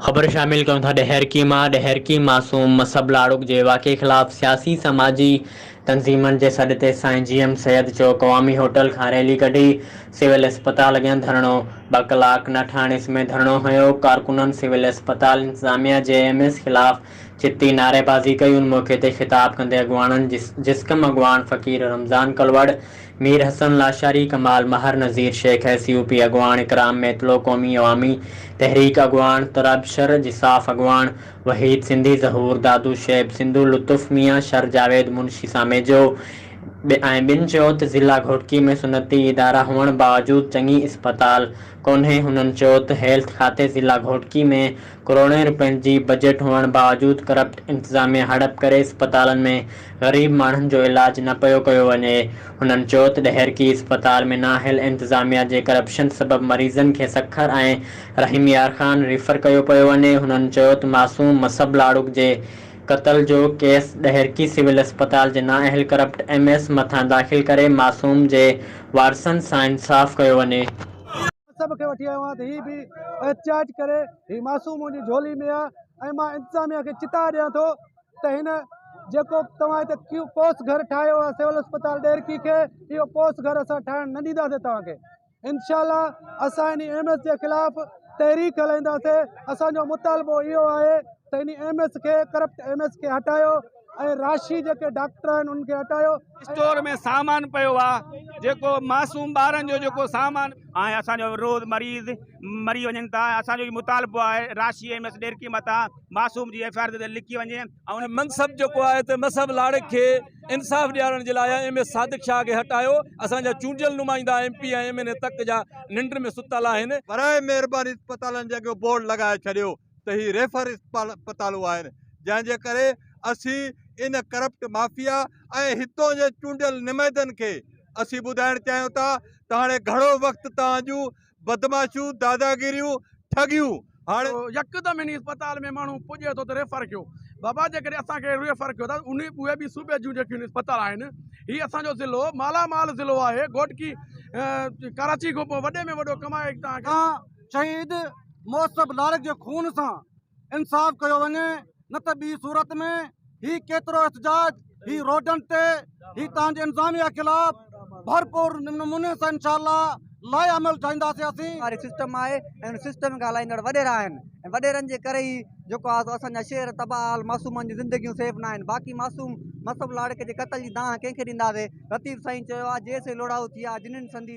خبر شامل ڪيون ٿا ڏهرڪي مان ڏهرڪي معصوم مصعب لاڙڪ جي واقعي خلاف سياسي سماجي تنظيمن جي سڏ تي سائين G M Syed Chowk Awami Hotel کان ريلي ڪڍي سول اسپتال اڳيان ڌرڻو ٻه ڪلاڪ نه ٺاهڻ سميت ڌرڻو هنيو ڪارڪنن سول اسپتال انتظاميا جي ايم ايس خلاف چتي نعري بازي ڪئي ان موقعي تي خطاب ڪندي اڳواڻن جسقم اڳواڻ Faqir Ramzan Kalhoro Mir Hassan Lashari, Kamal Mahar, Nazir Shaikh S U P اڳواڻ، اڪرام ميتلو قومي عوامي تحريڪ اڳواڻ، تراب شر جساف اڳواڻ، وحيد سنڌي، ظهور دادو، شعيب سنڌو، لطف ميان، شر جاويد منشي ساميجو ۽ ٻين چيو ته ضلع گهوٽڪي ۾ صنعتي ادارا هئڻ باوجود چڱي اسپتال ڪونهي، هنن چيو ته هيلٿ کاتي ضلع گهوٽڪي ۾ ڪروڙين روپين جي بجيٽ هئڻ باوجود ڪرپٽ انتظاميا هڙپ ڪري اسپتالن ۾ غريب ماڻهن جو علاج نه پيو ڪيو وڃي، هنن چوٿ ڏهرڪي اسپتال ۾ نااهل انتظاميا جي ڪرپشن سبب مريضن کي سکر ۽ رحيم يار خان ريفر ڪيو پيو وڃي، هنن چوٿ معصوم مصعب لاڙڪ جي قتل جو ڪيس ڏهرڪي سول اسپتال جي نااهل ڪرپٽ ايم ايس مٿان داخل ڪري معصوم جي وارثن سان انصاف ڪيو وڃي. مصعب کي وٺي آيو آهيان ته هي به احتجاج ڪري، هي معصوم منهنجي جهولي ۾ آهي ۽ مان انتظاميا کي چتاء ڏيان ٿو ته هن جيڪو توهان هتي ڪيو پوس گهر ٺاهيو آهي سول اسپتال ڏيرڪي کي اهو پوس گهر اسان ٺاهڻ نه ڏينداسين توهان کي انشاء الله اسان ان ايم ايس جي خلاف تحريڪ هلائينداسين اسان جو مطالبو اهو آهي ته ان ايم ايس کي کرپٽ ايم ايس کي هٽايو ۽ راشي جيڪي ڊاڪٽر آهن ان کي هٽايو اسٽور ۾ سامان پيو آهي جيڪو معصوم ٻارن جو جيڪو سامان آهي اسان جو روز مريض مري وڃن ٿا اسان جو مطالبو آهي راشي ايم ايس ڏيرڪي متان معصوم جي ايف آء آر تي لکي وڃي ۽ ان کي منصب جيڪو آهي ته مصعب لاڙڪ کي انصاف ڏيارڻ جي لاء ايم اي صادق شاهه کي هٽايو اسان جا چونڊيل نمائندا M P ۽ M N A تڪ جا ننڊ ۾ ستل آهن. براهه مهرباني اسپتالن جي اڳيون بورڊ لڳائي ڇڏيو ته هي ريفر اسپتالون آهن جنهن جي ڪري اسين ان ڪرپٽ مافيا ۽ هتون جي چونڊيل نمائدن کي اسين ٻڌائڻ چاهيون ٿا ته هاڻي گهڻو وقت توهان جون بدمعاشيون، داداگيريون، ٺڳيون هاڻي. يڪدم انهي اسپتال ۾ ماڻهو پڄي ٿو ته ريفر ڪيو. بابا جيڪڏهن اسان کي ريفر ڪيو ٿا ته انهي اهي به صوبي جون جيڪيون اسپتال آهن هي اسان جو ضلعو مالا مال ضلعو آهي گهوٽڪي ڪراچي کان پوء وڏي ۾ وڏو ڪمائي توهان کي. مان شهيد محسب لارڪ جي خون سان انصاف ڪيو وڃي. نه ته ٻي صورت ۾ هي ڪيترو احتجاج هي روڊن تي هي تان جي انتظاميا خلاف ڀرپور نموني سان انشاءالله لاء عمل ٺاهينداسي اسين واري سسٽم آهي ۽ ان سسٽم کي هلائيندڙ وڏيرا آهن ۽ وڏيرن جي ڪري ئي جيڪو آهي سو اسان جا شهر تباهه حال معصومن جون زندگيون سيف ناهن باقي معصوم مصعب لاڙڪي جي قتل جي دانهن ڪنهن کي ڏينداسي لطيف سائين چيو آهي جيسين لوڙائو ٿي آهي جنين سندي